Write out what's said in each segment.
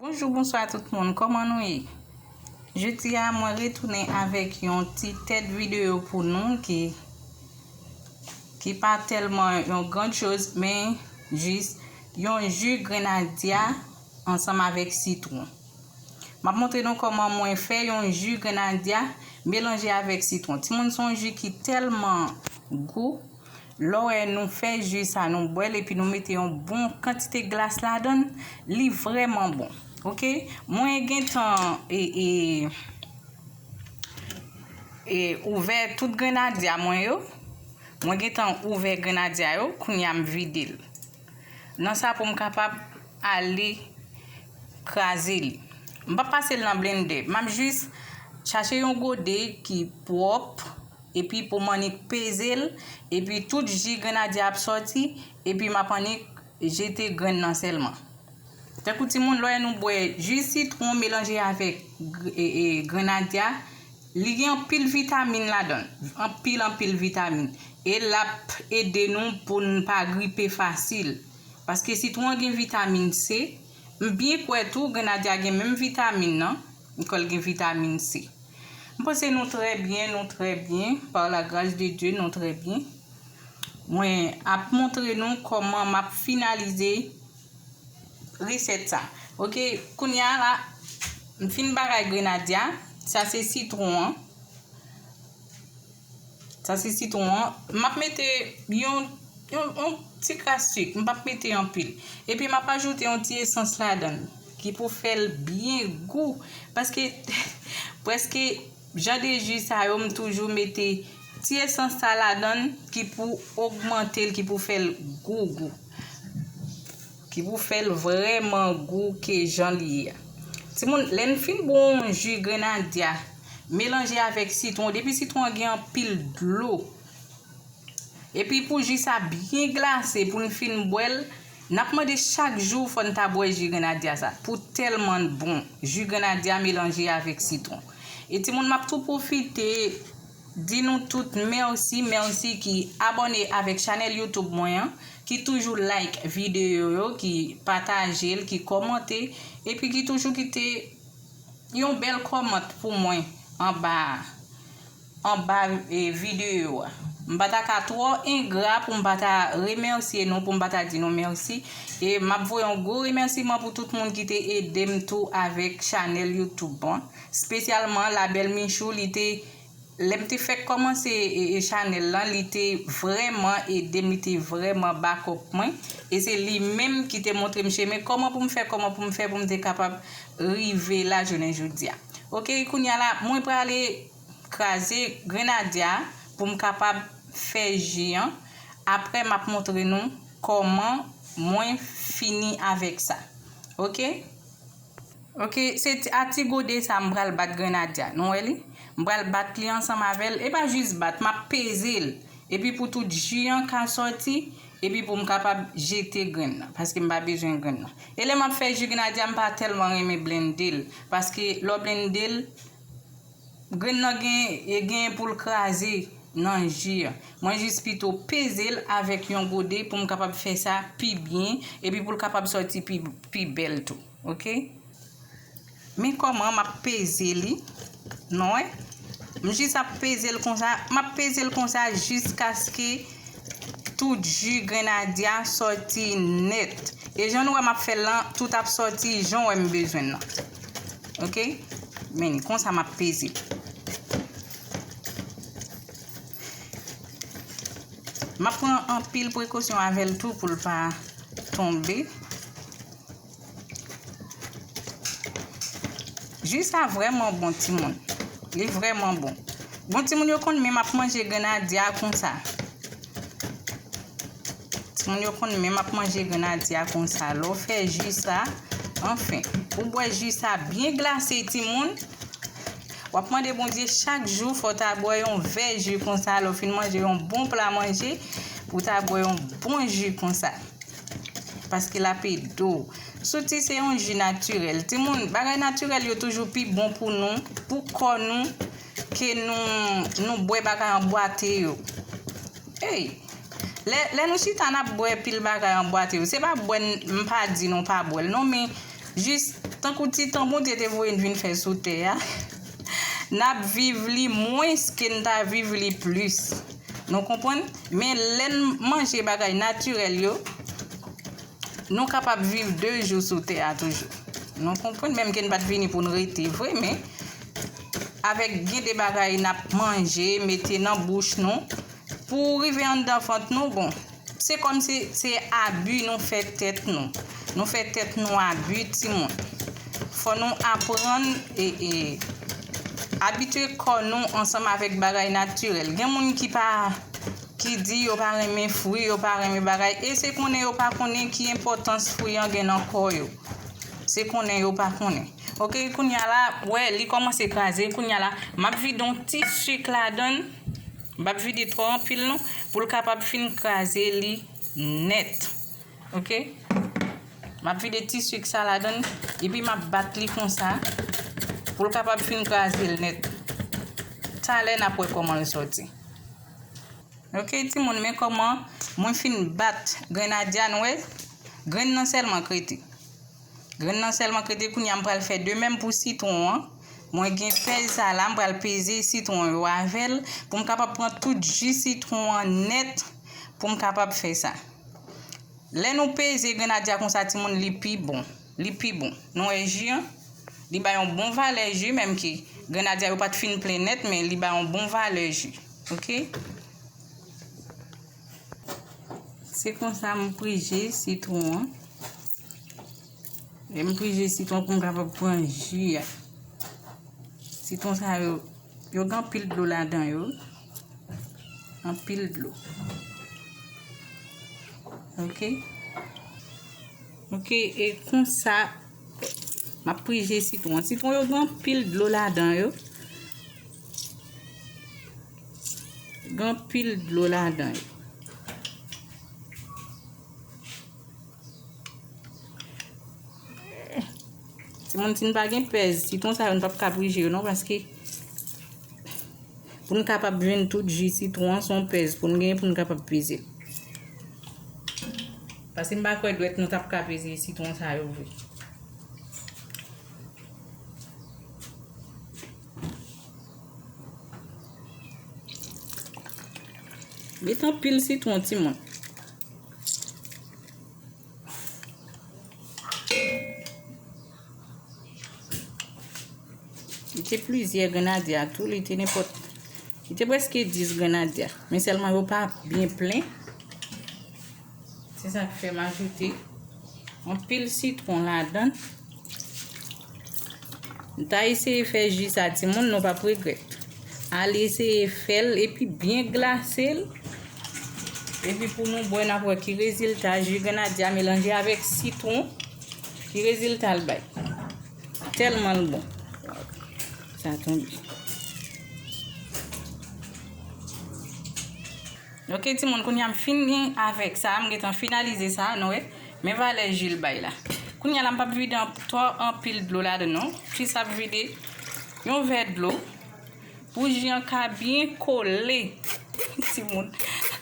Bonjou bonswa tout moun kòman nou ye jodi a mwen retounen avèk yon ti tèt videyo pou nou ki ki pa tèlman yon grand choz men jis yon ju grenadya ansanm avèk sitwon m ap montre nou kòman mwen fè yon ju grenadya melanje avèk sitwon timoun son ju ki tèlman gou Lò wè nou fè ju sa nou bwèl epi nou mete yon bon kantite glas ladann li vrèman bon ok mwen gentan e e e ouvè tout grenadya mwen yo mwen gentan ouvè grenadya yo kounya m vide l nan sa pou m kapab ale kraze li m pa pase l nan blende map jis chache yon gode ki pwòp Epi pou m annik peze l, epi tout ji grenadye a ap sòti, epi m ap annik jete grenn nan sèlman. Tankou timoun, lè nou bwè ji sitwon melanje avèk grenadye a, li gen anpil vitamin ladan l, anpil anpil vitamin. E l ap ede nou pou n pa gripe fasil. Paske sitwon an gen vitamin C, m byen kwè tou grenadye a gen menm vitamin nan, m kwè l gen vitamin C. M panse nou trè byen nou trè byen par la gras de Dye nou trè byen mwen ap montre nou kòman map finalize resèt sa ok kounya la m fin bagay grenadya sa se sitron an. Sa se sitwon an. M ap mete yon yon ti kras sik. M pap mete anpil. Epi m ap ajoute yon ti esans ladan l. Ki pou fè l byen gou. Paske preske jan de ji sa yo m toujou mete ti esans sa ladan l ki pou ogmante l, ki pou fè l gou gou. Ki pou fè l vrèman gou ke jan l ye a. Timoun, lè n fin bon ji grenadya, melanje avèk sitwon, depi sitwon an gen anpil dlo, epi pou ji sa byen glase pou n fin bwè l, n ap mande chak jou fò n ta bwè ji grenadya sa, pou tèlman l bon, ji grenadya melanje avèk sitwon. E timoun m ap tou pwofite. Di nou tout merci merci ki abonné avèk chanèl YouTube mwen an, ki toujou like video yo, ki patajel, ki kòmante, epi ki toujou kite Yon bèl kòmant pou mwen anba a, anba video a. M pa ta ka twò engra pou m pa ta remèsye nou, pou m pa ta di nou merci, e map voye yon gwo remèsiman pou tout moun ki te edem tou avèk chanèl YouTube mwen. Spesyalman la belle Michou li te lèm te fèk kòmanse chanèl lan li te vrèman edem li te vrèman bakòp mwen e se li menm ki te montrem chemen kòman poum fè kòman poum fè poum te kapab rive la jounen jodia ok kounya la mwen prale kraze grenadya poum kapab fè ji an aprè map montre nou kòman mwen fini avèk sa ok. Ok se a ti gode sa m pral bat Grenadya nou wè li m pral bat li ansanm avèl e pa jis bat map peze l epi pou tout ji an ka sòti epi pou m kapab jete grenn nan paske m pa bezwen grenn nan e lè map fè ji Grenadya m pa tèlman renmen blende l paske lè w blende l Grenn nan genyen pou l kraze nan ji a. Mwen jis pito peze l avèk yon gode pou m kapab fè sa pi byen epi pou l kapab sòti pi bèl tou. Ok. Men kòman m ap peze li. Nou wè? M jis ap peze l konsa. M ap peze l konsa jiskaske tout ji grenadye a sòti nèt. E jan nou wè m ap fè l lan, tout ap sòti jan w wè m bezwen l lan. Ok. Meni. Konsa m ap peze. M ap pran an pil prekosyon avè l tou pou l pa tonbe. Jwi sa vreman bon ti moun. Li vreman bon. Bon ti moun yo konn menm ap manje grenadya konsa. Timoun yo konn menm ap manje grenadye a konsa lè w fè ji sa anfen ou bwè ji sa byen glase timoun wap mande Bondye chak jou fò ta bwè yon vè ji konsa lè w fin manje yon bon pla manje ou ta bwè yon bon ji konsa paske l ap ede w souti se yon ji natirèl timoun bagay natirèl yo toujou pi bon pou nou pou kò nou Ke nou, nou bwè bagay an bwate yo. Ey! Lè, lè nou chita n ap bwè pil bagay an bwate yo, se pa bwè n, m pa di nou pa bwè l non men, jis, tankou ti tan Bondye te voye n vin fè sou tè a, n ap viv li mwens ke n ta viv li plis. Nou konprann? Men lè n manje bagay natirèl yo, nou kapab viv de jou sou tè a toujou. Nou konprann? Menm ke n pa t vini pou n rete vre men, Avèk gen de bagay n ap manje, mete nan bouch nou, pou rive anndan vant nou, bon, se kòmsi se abi nou fè tèt nou. Nou fè tèt nou abi timoun. Fò nou aprann abitye kò nou ansanm avèk bagay natirèl. Gen moun ki pa, ki di yo pa renmen fwi, yo pa renmen bagay, e se konnen yo pa konnen ki enpòtans fwi an gen nan kò yo. Se konnen yo pa konnen. Ok kounya la wè li kòmanse kraze kounya la map vide yon ti suk ladann bap vide twò anpil non poul kapab fin kraze li nèt ok map vide ti suk sa ladann epi map bat li konsa poul kapab fin kraze l nèt talè nap wè kòman l sòti ok ti moun men kòman mwen fin bat grenadya n wè grenn nan sèlman k rete. Grenn nan sèlman krete kounye a m pral fè de menm pou sitwon an. Mwen gen pèz sa la m pral peze sitwon yo avè l pou m kapab pran tout ji sitwon an nèt pou m kapab fè sa. Lè nou peze grenadya konsa timoun li pi bon. Li pi bon. Nou wè ji an? Li bay yon bon valè ji menm ke grenadya yo pa t fin plen nèt men li bay yon bon valè ji. Ok. Se konsa m prije sitwon an. Lè m prije sitwon pou m kapab pran ji a. Sitwon sa yo, yo gen anpil dlo ladan yo. Anpil dlo. Ok. Ok, e kon sa, m ap prije sitwon. Sitwon yo gen anpil dlo ladan yo. Gen anpil dlo ladan yo. Ti moun si n pa gen pèz, sitwon sa yo n pap ka prije yo non paske pou n kapab jwenn tout ji sitwon an son pèz pou n gen pou n kapab peze. Paske m pa kwè dwèt nou tap ka peze sitwon sa yo vre. Met anpil sitwon ti moun. Li te plizyè grenadya tou, li te nenpòt. Li te preske 10 grenadya. Men selman yo pa byen plen. Se sa k fè m ajoute anpil sitron ladan. M ta eseye fè ji sa timoun nou pap regrèt. Al eseye fè l epi byen glase l. Epi pou nou bwè n ap wè ki rezilta ji grenadye a melanje avèk sitwon. Ki rezilta l bay. Tèlman l bon. Sa tonbe. Ok timoun kounya m fini avèk sa m gentan finalize sa nou wè men valè ji l bay la kounya la m pap vide twò anpil dlo ladann non jis ap vide yon vè dlo pou ji an ka byen kole timoun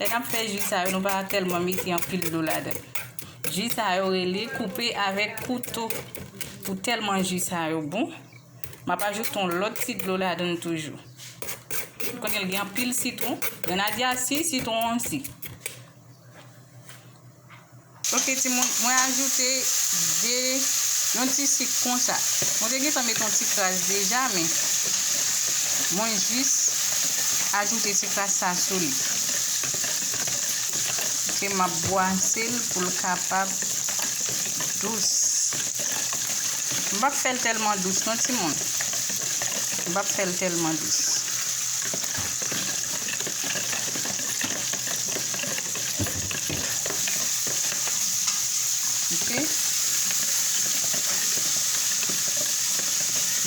lè nap fè ji sa yo nou pa tèlman mete anpil dlo ladann ji sa yo rele koupe avèk kouto pou tèlman ji sa yo bon. M ap ajoute yon lòt ti dlo ladan l toujou. M konnen l gen anpil sitwon. Grenadya si, sitwon an si. Ok timoun, mwen ajoute 2, yon ti sik konsa. Mwen te gentan met yon ti kras deja men mwen jis ajoute ti kras sa sou li. Ok, m ap bwase l pou l kapab dous. M pap fèl tèlman dous non timoun m pap fèl tèlman dous ok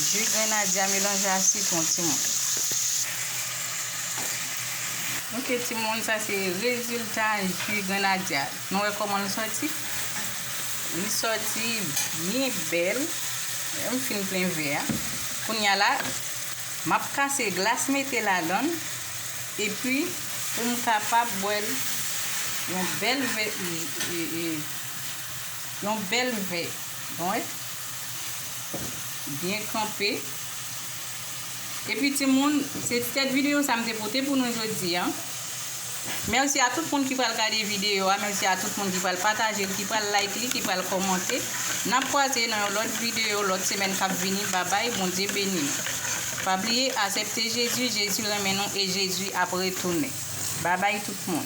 ju grenadye a melanje a sitwon timoun ok timoun sa se rezilta ju grenadye a. Nou wè koman l sòti? Li sòti byen bèl. Wè m fin plen vè a. Kounye a la, m ap kase glas mete ladan l epi pou m kapab bwè l yon bèl vè yon bèl vè. Bon wè? Byen kanpe. Epi timoun, se tèt videyo sa m te pote pou nou jodi an. Mèsi a tout moun ki pral gade videyo a, mèsi a tout moun ki pral pataje l, ki pral like li, ki pral kòmante. N ap kwaze nan yon lòt videyo lòt semèn k ap vini. Babay, Bondye beni nou. Pa bliye asepte Jezi, Jezi renmen nou e Jezi ap retounen. Babay tout moun.